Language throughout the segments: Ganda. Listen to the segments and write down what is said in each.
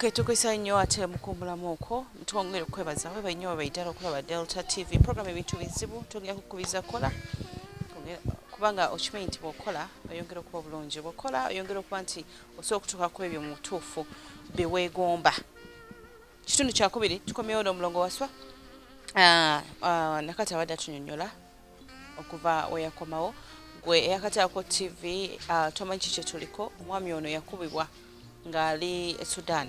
Okay, tukwisa nnyo ate mukumbulamu okwo twongere okwebaza weba nnyo webaidala okulaba delta tv program ebintu bizibu twongera kukubiza kola kubanga okimanyi nti bwokola oyongera okuba obulungi bwokola oyongera okuba nti osobola okutuuka ku ebyo mu butuufu byewegomba Kitundu kyakubiri tukomyewo n'omulongo waswa ah, ah, nakati abadde atunyonyola okuva weyakomawo gwe eyakataako tv ah, tomanyi ki kyetuliko omwami ono yakubibwa ng'ali e sudan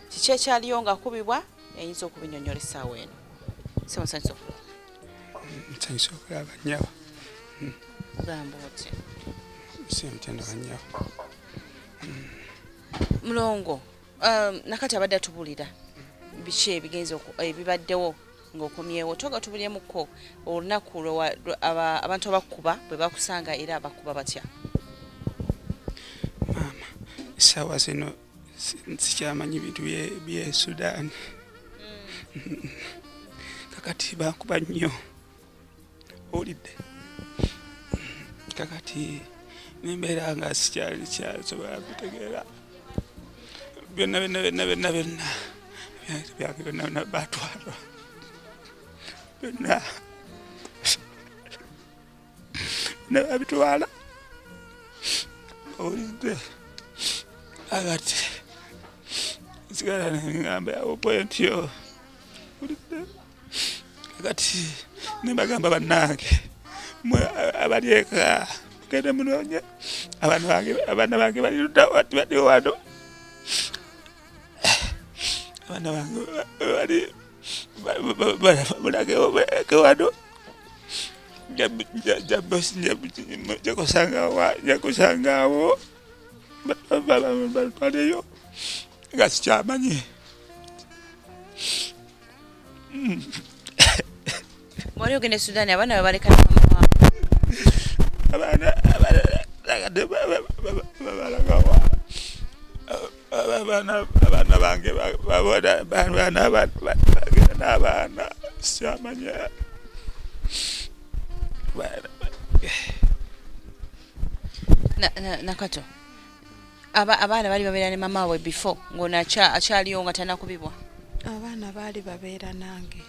kiki ekyaliyo ng'akubibwa eyinza okubinyonyola essaawa eno simusanyusa okulaba nsanyusa okulaba nyaba hmm. gamba oti simutenda banyaba hmm. mulongo Um, nakati abadde atubulira biki ebigenza ebibaddewo ngaokomyewo toga tubulyemukko olunaku abantu abakuba bwe bakusanga era abakuba batya maama esawa zino sikyamanyi bintu bye sudaani mm. kakati bakuba nnyo owulidde kakati nembeera nga sikyali kyasobola kutegeera byonna byonna byonna byonna byonna byange byonna byonna batwalwa byonna byonna babitwala owulidde agati nsigala nengamba yawo pointi yo owulidde kati nembagamba bannange mwe abali eka mugende munoonye abaana bange bali ludda wati bali wano abaana bange bali balagewo balage wano jakusangawo batwaleyo nga sikyamanyi Mwali ogenda e Sudani abaana bwe baleka abaana abalagade babalagawa abaana bange babona baana bagenda n'abaana sikyamanya nakato aba abaana bali babeera ne mama waabwe before ng'ono akyaliyo nga tanakubibwa abaana baali babeera nange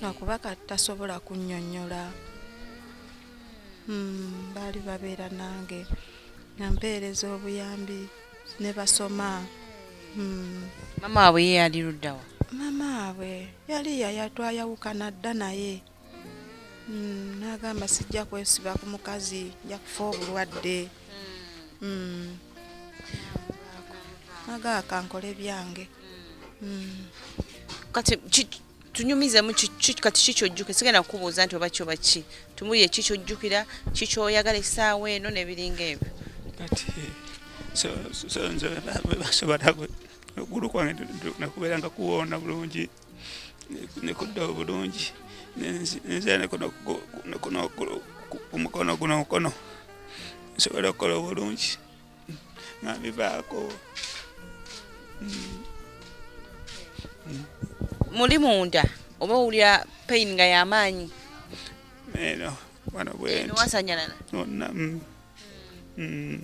nakuba kati tasobola kunnyonnyola hmm, baali babeera nange nampeereza obuyambi ne basoma hmm. mama waabwe ye yali luddawa mama waabwe yali yayatwayawukana dda naye Mm, nagamba sijja kwesiba ku mukazi nja kufa obulwadde mm. mm. nagaa kankole byange mm. kati tunyumizemu kati kikyojjuka sigenda kukubuuza nti oba kyoba ki tumuye kikyojjukira kikyoyagala esaawa eno nebiringa ebyo kati basobola okugulu kwange nakubeera nga kuwoona bulungi nekudda obulungi nzira nekumukono guno mukono nsobola okukola obulungi nga bivaako muli munda oba owulira pain nga yamaanyi eno wano bwenti wasanyalala Mm.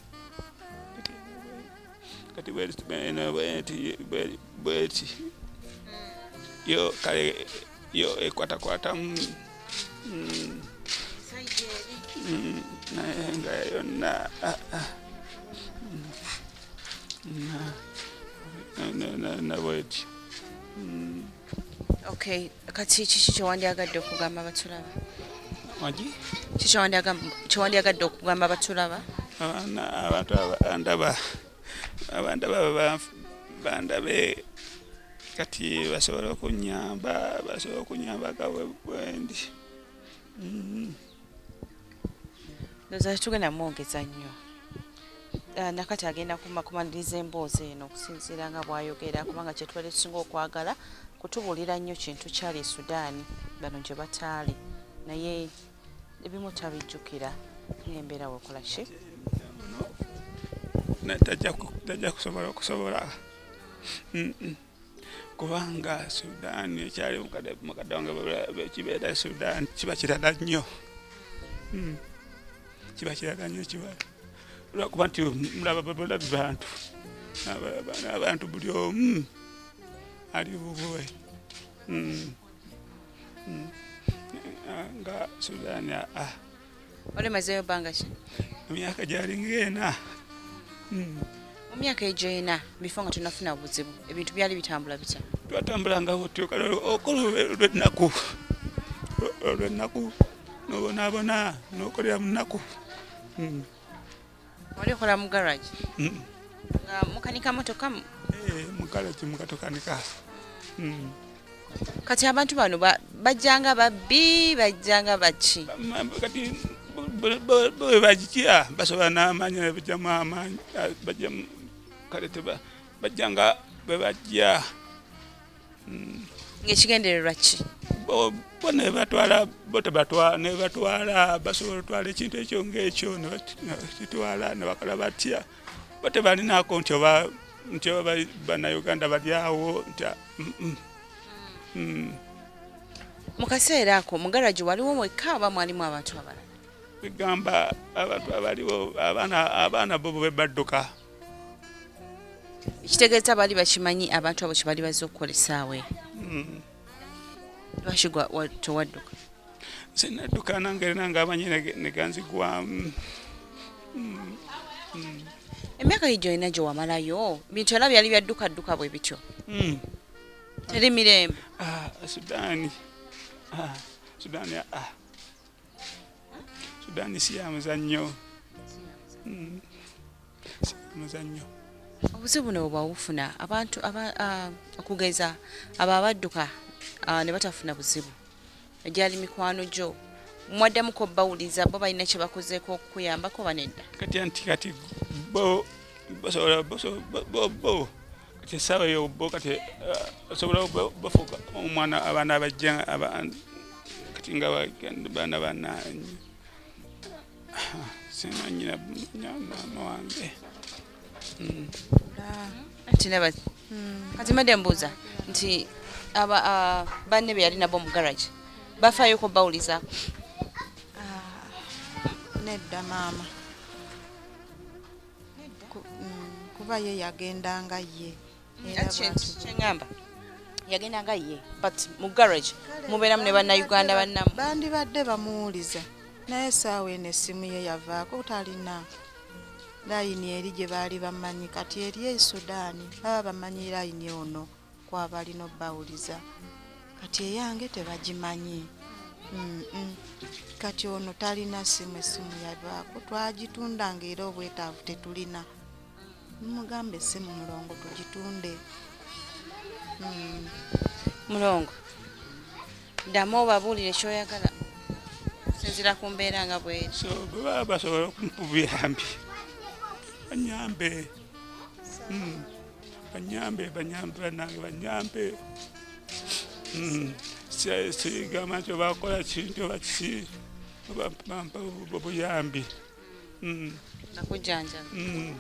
kati bweti bene bweti bwe- bweti yo kale yo ekwatakwatamu Mm. Mm, naye nga yonna ah, ah. Mm. Na- na- na- na bweti Mm. okay kati kiki kyewandyagadde okugamba batulaba magi kiki kyewandyagadde okugamba batulaba abantu abandaba abandaba bandabe kati basobole okunyamba basobole okunyamba gabwe bwendi mm-hmm. ndoza tugenda mwongeza nnyo ah, nakati agenda kumakumaliriza emboozi eno okusinziira nga bwayogera kubanga kyetwali tusinga okwagala kutubuulira nnyo kintu kyali e sudaani bano gye bataali naye ebimu tabijjukira nembeera wekola ki tajja kusobola okusobola kubanga Sudan ekyali mukadonge kibeera e Sudan kiba kirala nnyo hmm. kiba kirala nnyo kiba lwakuba nti mulaba babulabi bantu abantu buli omu ali bubwe hmm. hmm. nga Sudan ah, ah. olemazeyo banga ki emyaka gyali ng'ena hmm. mu myaka egyo ena bifo nga tunafuna buzibu ebintu byali bitambula bitya twatambulanga butyo kale okola olwennaku olwennaku nobonaabona nokolera mu nnaku hmm. Wali okola mu garage? Mm. Nga mukanika motoka? Eh, mu garage mukatokanika. Mm. Kati abantu bano bajjanga babbi bajjanga baki? Kati bwe bagitya basobola n'amaanyi naye bajjamu amaanyi bajjamu kale teba bajjanga bwe bajja mm. ngaekigendererwa ki bo nebatwala botebatwala nebatwala basobola otwala ekintu ekyo ngaekyo nebakitwala nebakola batya botebalinako nti oba nti oba banauganda balyawo nti mm, mm. mm. mu kaseera ako mugaraji waliwo mwekka oba mwalimu abantu abalala egamba abantu abaliwo abaana abaana bobo bebadduka ekitegeeza baali bakimanyi abantu abo kyebaali bazze okukola esaawa hmm. lwaki tewadduka nze nadduka nange rina ngaamanyi neganzigwamu hmm. hmm. emyaka yi gyolina gye wamalayo bintu era byali byaddukadduka bwe bityo teri mirembe ah, sudaani ah, sudaani ah. sudani si ya muzannyo hmm. si ya muzannyo obuzibu buno bwebwawufuna abantu okugeza abo abadduka ne batafuna buzibu egyali mikwano gyo mwaddamu ko bawuliza bo balina kye bakozeeko okukuyambako banedda kati anti kati bo basobola bo kyesaawa eyo bo kati eh, osobola bafuuka omwana abaana abajja kati nga baana banaanyi simanyira maama wange hmm. ah, kati made mbuuza nti ah, banne be yali nabo mu garage bafaayo ko bawulizaako ah, nedda maama mm, kuba ye yagenda nga ye kyeŋamba yagenda nga ye but mu garage mubeeramu ne bannayuganda bannamu bandibadde bamuwuliza naye esaawa eno essimu ye yavaako talina layini eri gye baali bamanyi kati eri e sudaani baba bamanyi layini ono kwaba alina obbawuliza kati eyange tebagimanyi kati ono talina simu esimu yavaako twagitunda nga era obwetaavu tetulina mugamba esimu mulongo tugitunde mm. mulongo ddamu obabuulire kyoyagala okusinzira ku mbeera nga bweri so bwebaba basobola okumukubuyambi anyambe mm. banyambe banyambe banange banyambe hmm. sigamba nti obakola kintu oba kiki bampa obuyambi hmm. hmm.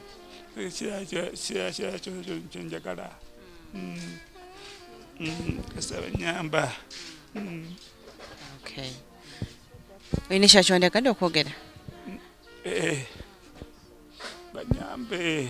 kyenjagala kasaba nyamba olina ekyakyondegadde okwogera eh, eh. banyambe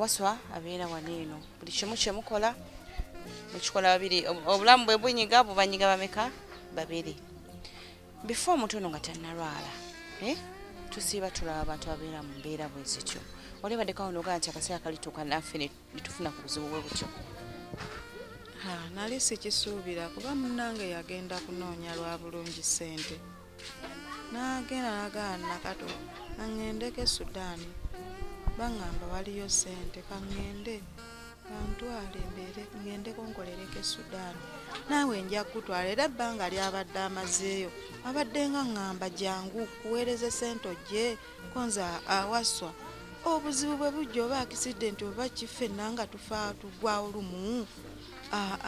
waswa abeera wano eno buli kimu kyemukola mukikola babiri obulamu bwe bunyiga bubanyiga bameka babiri before omuntu ono nga tanalwala eh? tusiiba tulaba abantu ababeera mu mbeera bwe zityo olebadeko awo nogaa nti akaseera kalituuka naffe netufuna ku buzibu bwe butyo nali sikisuubira kuba munange yagenda kunoonya lwa bulungi ssente n'agenda n'agana nakato aŋŋendeko e sudaani baŋŋamba waliyo ssente kaŋŋende kantwale mbeere ŋŋende kunkolereko e sudaani naawe nja kukutwala era ebbanga lyabadde amazeeyo abadde nga ŋŋamba jangu kuweereza essente ojje konza awaswa obuzibu bwe bujja oba akisidenti oba kiffe nanga tufa tugwawo lumu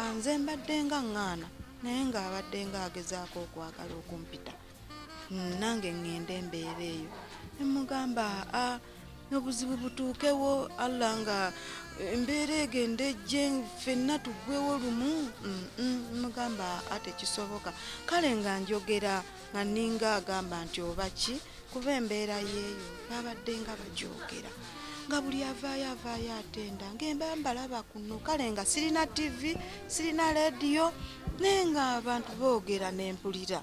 anze mbadde nga ŋŋaana naye ng'abadde ng'agezaako okwagala okumpita mm, nange ŋŋende embeera eyo ne mugamba a n'obuzibu butuukewo allah nga embeera egende ejje fenna tuggwewo lumu mugamba atekisoboka kale nga njogera nga ninga agamba nti oba ki kuba embeera yeeyo babadde nga bajoogera nga buli avaayo avaayo atenda ngembambalaba kuno kale nga sirina tivi sirina leediyo naye nga abantu boogera nempulira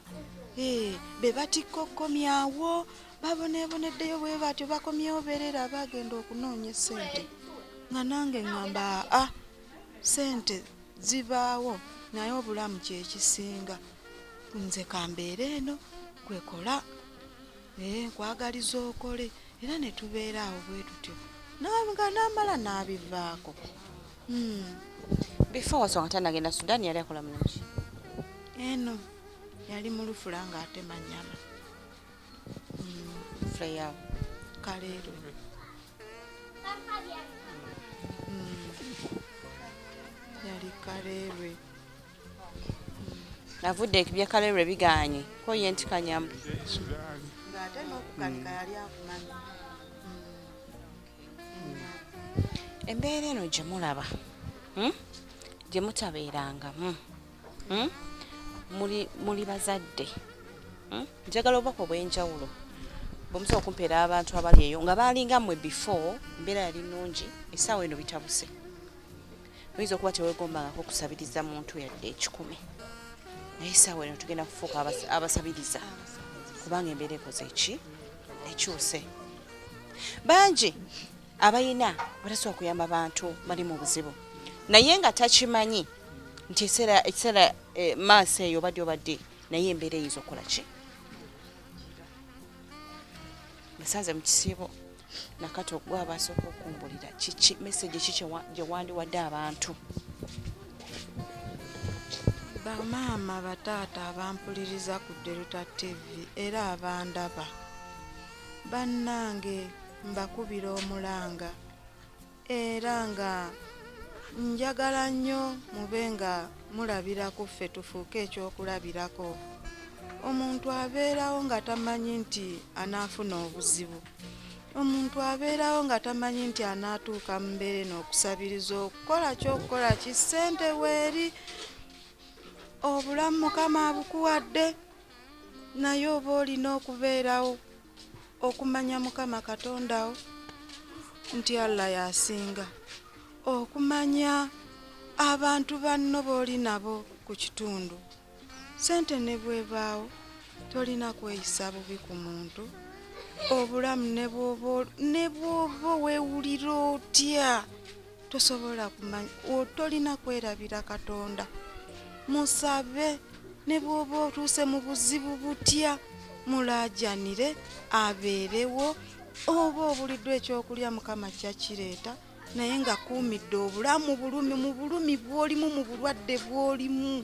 eh, be batikka okukomyawo baboneeboneddeyo bwe batyo bakomyewo beerera bagenda okunoonya esente nga nange ngamba aa sente zibaawo naye obulamu kyekisinga nze kambeera eno kwekola ee eh, nkwagaliza okole era ne tubeera awo bwe tutyo nga namala n'abivaako hmm. before wasonga tanagenda sudan yali akola mulungi eno yali mulufula nga ate manyama hmm. freya kaleero hmm. yali kaleerwe avudde ekibye kalero ebiganye ko ye nti kanyamu ng'ate n'okukanika yali akumanyi hmm. embeera eno gye mulaba hmm? gye mutabeerangamu hmm? muli bazadde njagala obubaka obw'enjawulo bwemusobola okumpeera abantu abali eyo nga baalinga mmwe before embeera yali nnungi essaawa eno bitabuse oyinza okuba tewegombangako kusabiriza muntu yadde ekikumi naye saawa eno tugenda kufuuka abasabiriza kubanga embeera ekoze eki ekyuse bangi abayina batasobola kuyamba bantu bali mu buzibu naye nga takimanyi nti ekiseera eh, maaso eyo obadde obadde naye embeera eyinza okukola ki nsanze mu kisiibo nakati ogwa abasooka okumbulira kiki meseji ki gye wandiwadde abantu bamaama bataata abampuliriza ku deruta tv era abandaba bannange mbakubira omulanga era nga njagala nnyo mube nga mulabira ku ffe tufuuke ekyokulabirako omuntu abeerawo nga tamanyi nti anaafuna obuzibu omuntu abeerawo nga tamanyi nti anaatuuka mu mbeera eno okusabiriza okukola kyokukola ki ssente weeri obulamu mukama abukuwadde naye oba olina okubeerawo okumanya mukama katonda wo nti allah yasinga okumanya abantu banno booli nabo ku kitundu sente ne bwebaawo tolina kweyisa bubi ku muntu obulamu ne bwoba wewulira otya tosobola kumanya otolina kwerabira katonda musabe ne bwoba otuuse mu buzibu butya mulaajanire abeerewo oba obuliddwa ekyokulya mukama kyakireeta naye nga kuumidde obulamu bulumi mu bulumi bwolimu mu bulwadde bwolimu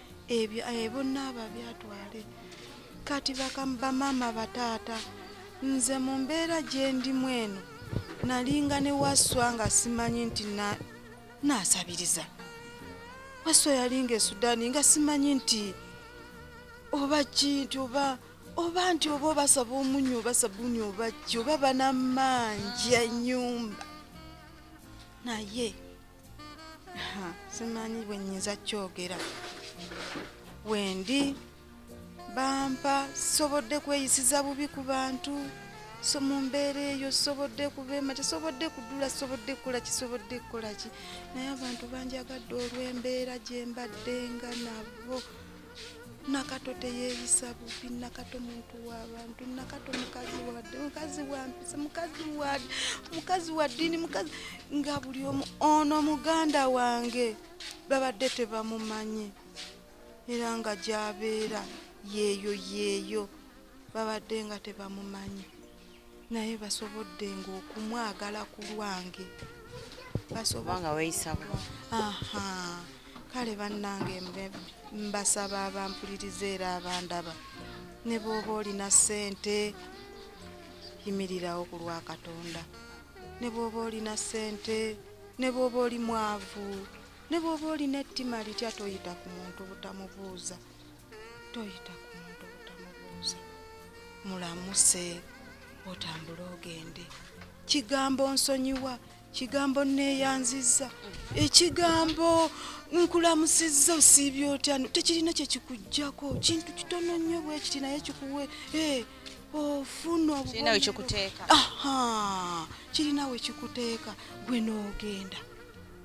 ebyo eh, bonna ababyatwale kati bamaama bataata nze mu mbeera gye ndimu eno nalinga ne waswa nga simanyi nti naasabiriza waswa yalinga esudani nga simanyi nti oba ki nti oba oba nti oba obasaba omunyu oba sabuni oba ki oba banamanja enyumba naye simanyi bwe nnyinza kyogera wendi bampa sisobodde kweyisiza bubi ku bantu so mu mbeera eyo sisobodde kubeema kisobodde kudula sisobodde kukola kisobodde kukola ki naye abantu banjagadde olw'embeera gye mbaddenga nabo nakato teyeyisa bubi nakato muntu wabantu nakato mukazi wade mukazi wampisa mukazi wade mukazi wadini mukazi nga buli omu ono muganda wange babadde tebamumanyi era nga gyabeera yeeyo yeeyo babadde nga tebamumanyi naye basobodde ngaokumwagala ku lwange basobanga weyisabo aha kale bannange mbasaba abampuliriza era abandaba ne bwoba olina ssente yimirirawo ku lwa katonda ne bwoba olina ssente ne bwoba oli mwavu ne bwoba olina ettima litya toyita ku muntu butamubuuza toyita ku muntu obutamubuuza mulamuse otambule ogende kigambo nsonyiwa kigambo neeyanzizza ekigambo nkulamusizza osiibye otya tekirina kyekikugjako kintu kitono nnyo bwekiti naye kikuwe eh, ofuna kirina wekikuteeka gwe noogenda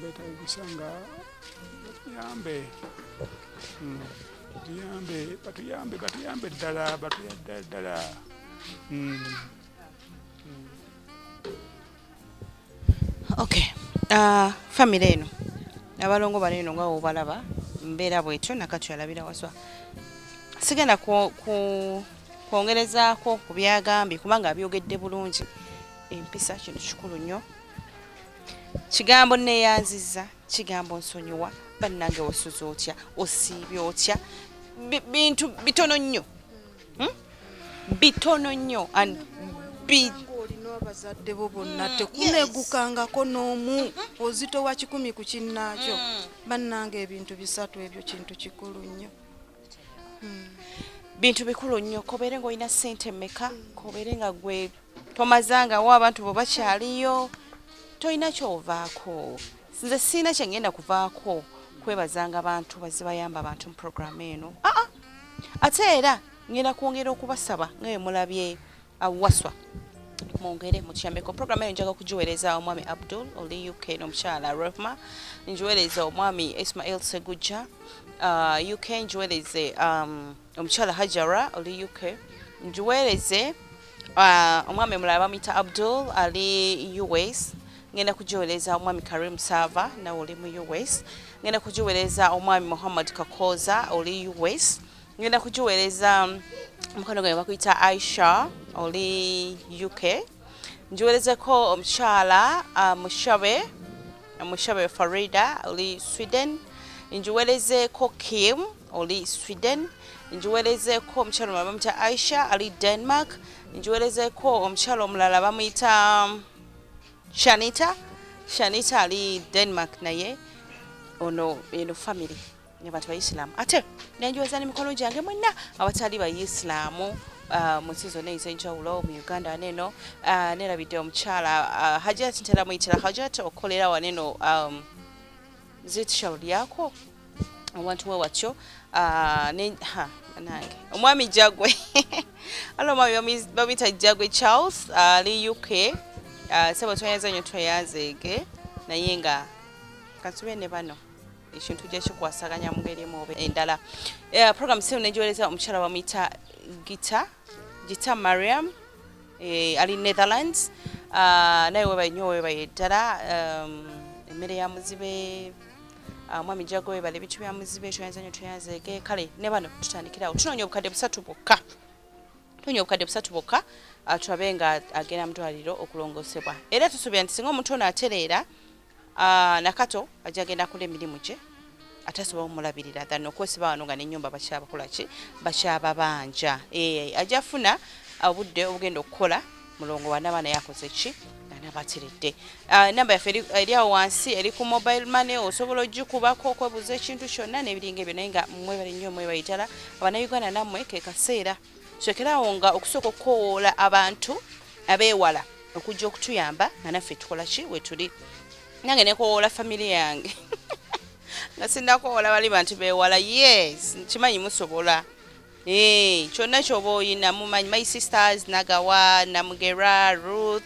betagisa nga batuyambe hmm. batuyambe batuyambe batuyambe ddala batuyadda ddala hmm. Hmm. ok uh, famire eno abalongo bano eno nga wobalaba mbeera bwetyo nakati alabira waswa sigenda kwongerezaako ku byagambye kubanga abyogedde bulungi empisa kintu kikulu nnyo kigambo neyanziza kigambo nsonyiwa bannange wasuza otya osiibye otya bintu bitono nnyo hmm? bitono nnyo and abazadde bo bonna mm, tekunegukangako n'omu mm-hmm. ozitowa kikumi ku kinnaakyo mm. bannanga ebintu bisatu ebyo kintu kikulu nnyo bintu bikulu nnyo kobeere nga olina sente meka kobeere nga gwe tomazangawo abantu bo bakyaliyo tolina kyovaako nze siina kyengenda kuvaako kwebazanga bantu bazibayamba abantu mu programu eno aa ah, ah. ate era ngenda kwongera okubasaba nga bemulabye awaswa mwongere mutukyambeko programu eyo njaga kugiweereza omwami abdul oli uk n'omukyala rehma ngiweereza omwami ismail segujja uh, uk ngiweereze um, omukyala hajara oli uk ngiweereze uh, omwami mulala bamuyita abdul ali us ngenda kugiweereza omwami karim sava nawe oli mu us ngenda kugiweereza omwami muhammad kakooza oli us ngenda kugiweereza omukono gwe bakuyita aisha oli uk ngiweerezeko omukyala uh, mushabe mushabe farida oli sweden ngiweerezeko kim oli sweden ngiweerezeko omukyala omulala bamuyita aisha ali denmark ngiweerezeko omukyala omulala bamuyita um, shanita shanita ali denmark naye ono eno family ne bati bayisiraamu ate nenjooza ne mikono gyange mwenna abatali bayisiraamu uh, mu nsi zonna ez'enjawulo mu uganda waneeno uh, nerabidde omukyala uh, hajat ntera muyitira hajat okukolera waneeno um, zitshal lyako owantu we watyo nange omwami jagwe ala omwami bamuyita jagwe charles ali uk sebo tweyanze nyo tweyanzeege naye nga katube ne bano ekintu gye kikwasaganya mu ngeri emu oba endala eh, program sino negiwereza omukyala bamuyita gita gita mariam eh, ali netherlands ah, naye webaye nyo webaye ddala um, emmere ya muzibe ah, mwami jago webale ebintu bya muzibe toyanza nyo toyanzeege kale ne bano tutandikirawo tunoonya obukadde busatu bwokka tunoonya obukadde busatu bwokka ah, tulabe nga agenda mu ddwaliro okulongosebwa era tusuubira nti singa omuntu ono atereera Ah, nakato ajja genda kula emirimu gye atasobola omulabirira than okwesiba wano nga nenyumba bakyabakolaki bakyababanja eh, ajja funa obudde obugenda okukola mulongo wanaba naye akoze ki nabatiridde ah, enamba yaffe eri awo wansi eri ku mobile money osobola ogikubako okwebuuza ekintu kyonna nebiringa ebyo naye nga mwebale nnyo mwebayitala abanauganda nammwe kekaseera sokeraawo nga okusooka okukowoola abantu abeewala okujja okutuyamba nga naffe tukola ki wetuli nange nekowoola famire yange nga sinakowoola bali bantu beewala yes nkimanyi musobola eh, kyonna kyoba oyina mumanyi my sisters nagawa namugera ruth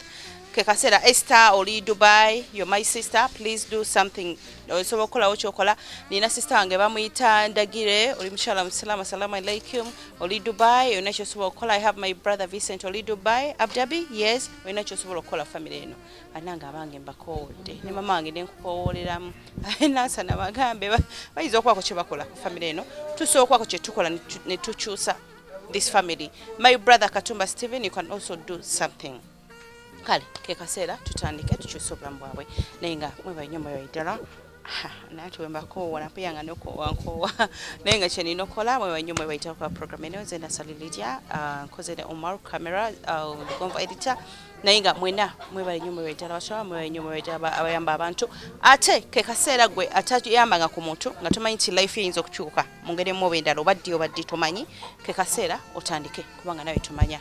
kekaseera ester oli dubai yo my sister please do something osobola okukolawo kyokola nina sister wange bamuyita ndagire oli mukyala musiraamu assalamu alaikum oli dubai olina kyosobola okukola i have my brother vincent oli dubai abdabi yes olina kyosobola okukola famire eno anange abange mbakoowodde ne mama wange nenkukowooleramu nansa nabagambe bayinza okubaako kyebakola ku famire eno tusobola okubaako kyetukola netukyusa this family my brother katumba stephen you can also do something kale ke kaseera tutandike tukyusa obulamu bwabwe naye nga mwebaye nyo mwebaye ddala naye tiwembakoowa napeya nga nokoowa nkoowa naye nga kyenina okukola mwebaye nyo mwebaye ddala kuba program eno nze nasali lidia ah, nkoze ne omar camera ah, lugonva editor naye nga mwena mwebale nyo mwebaye ddala bakyala mwebaye nyo mwebaye ddala abayamba abantu ate ke kaseera gwe atayambanga ku muntu nga tomanyi nti life eyinza okukyuka mu ngeri emu oba endala oba ddi oba ddi tomanyi ke kaseera otandike kubanga nawe tomanya